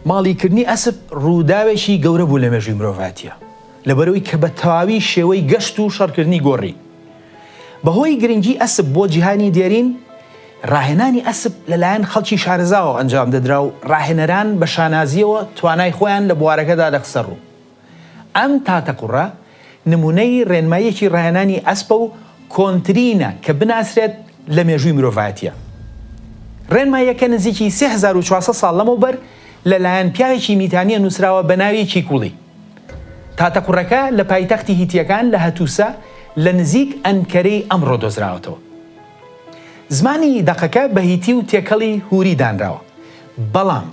ماڵی کردنی ئەسپ ڕووداوێکی گەورە بوو لە مێژووی مرۆڤاتیە لەبەرەوەی کە بە تەواوی شێوەی گەشت و شەڕکردنی گۆڕی بەهۆی گرنگی ئەسپ بۆ جیهانی دێرین، ڕاهێنانی ئەسپ لەلایەن خەڵکی شارەزاوە ئەنجام دەدرا و ڕاهێنەران بە شانازییەوە توانای خۆیان لە بوارەکەدا دەخستەڕوو. ئەم تاتەقوڕە نموونەی ڕێنماییەکی ڕاهێنانی ئەسپە و کۆنترینە کە بناسرێت لە مێژووی مرۆڤایەتییە. ڕێنماییەکە نزیکی سێ هەزار و چوار سەد ساڵ لەمەوبەر لەلایەن پیاوێکی میتانییە نووسراوە بە ناوی کیکوڵی. تاتەقوڕەکە لە پایتەختی هیتییەکان لە هەتوسە لە نزیک ئەنکەرەی ئەمڕۆ دۆزراوەتەوە. زمانی دەقەکە بە هیتی و تێکەڵی هوری دانراوە، بەڵام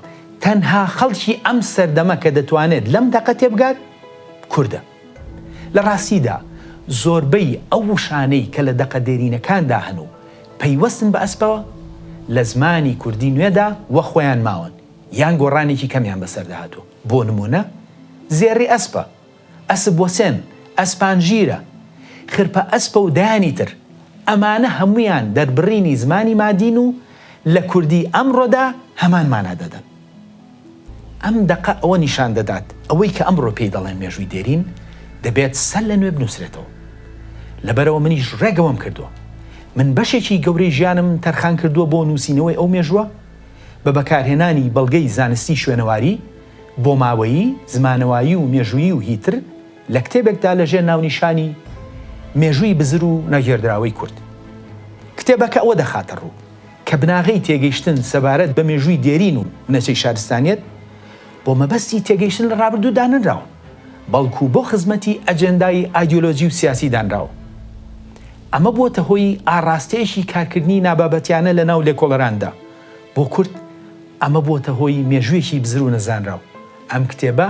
تەنها خەڵکی ئەم سەردەمە کە دەتوانێت لەم دەقە تێبگات کوردە. لە ڕاستیدا زۆربەی ئەو وشانەی کە لە دەقە دێرینەکاندا هەن و پەیوەستن بە ئەسپەوە، لە زمانی کوردی نوێدا وەخۆیان ماون. یان گۆڕانێکی کەمیان بەسەردا هاتووە، بۆ نموونە، زێڕی ئەسپە، ئەسپ وەسێن، ئەسپانژیرە، خرپە ئەسپە و دەیانی تر، ئەمانە هەموویان دەربڕینی زمانی مادین و لە کوردیی ئەمڕۆدا هەمان مانا دەدەن. ئەم دەقە ئەوە نیشان دەدات، ئەوەی کە ئەمڕۆ پێی دەڵێن مێژووی دێرین، دەبێت سەر لە نوێ بنووسرێتەوە. لەبەرئەوە منیش ڕێگەوەم کردووە. من بەشێکی گەورەی ژیانم تەرخان کردووە بۆ نووسینەوەی ئەو مێژووە. بە بەکارهێنانی بەڵگەی زانستی شوێنەواری، بۆماوەیی، زمانەوایی و مێژوویی و هیتر، لە کتێبێکدا لەژێر ناونیشانی، مێژووی بزر و نەگێردراوەی کورد. کتێبەکە ئەوە دەخاتەڕوو، کە بناغەی تێگەیشتن سەبارەت بە مێژووی دێرین و بنەچەی شارستانیەت، بۆ مەبەستی تێگەیشتن لە ڕابردوو دانەنراون. بەڵکو بۆ خزمەتی ئەجێندای ئایدیۆلۆجی و سیاسی دانراوە. ئەمە بووەتە هۆی ئاڕاستەیەکی کارکردنی نابابەتیانە لە ناو لێکۆڵەراندا. بۆ کورد ئەمە بووەتە هۆی مێژوویەکی بزر و نەزانراو. ئەم کتێبە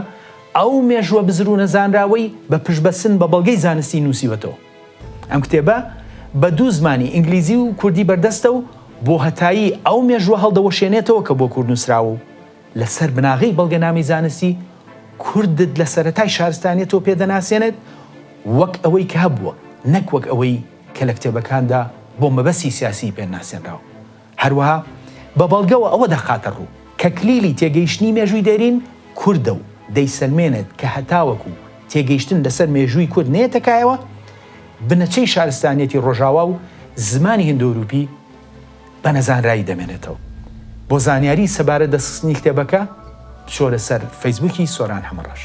ئەو مێژووە بزر و نەزانراوەی بە پشتبەستن بە بەڵگەی زانستی نووسیوەتەوە. ئەم کتێبە بە دوو زمانی ئینگلیزی و کوردی بەردەستە و بۆ هەتایی ئەو مێژووە هەڵدەوەشێنێتەوە کە بۆ کورد نووسراوە و لەسەر بناغەی بەڵگەنامەی زانستی، کوردت لە سەرەتای شارستانیەتەوە پێ دەناسێنێت وەک ئەوەی کە هەبووە، نەک وەک ئەوەی کە لە کتێبەکاندا بۆ مەبەستی سیاسیی پێ ناسێنراوە. هەروەها بە بەڵگەوە ئەوە دەخاتە ڕوو کە کلیلی تێگەیشتنی مێژووی دێرین کوردە و دەیسەلمێنێت کە هەتاوەکو تێگەیشتن لەسەر مێژووی کورد نەیەتە کایەوە، بنەچەی شارستانیەتی ڕۆژاوا و زمانی هندۆئەوروپی، بە نەزانرایی دەمێنێتەوە. بۆ زانیاری سەبارەت دەستخستنی کتێبەکە بچۆرە سەر فەیسبووکی سۆران حەمەڕەش.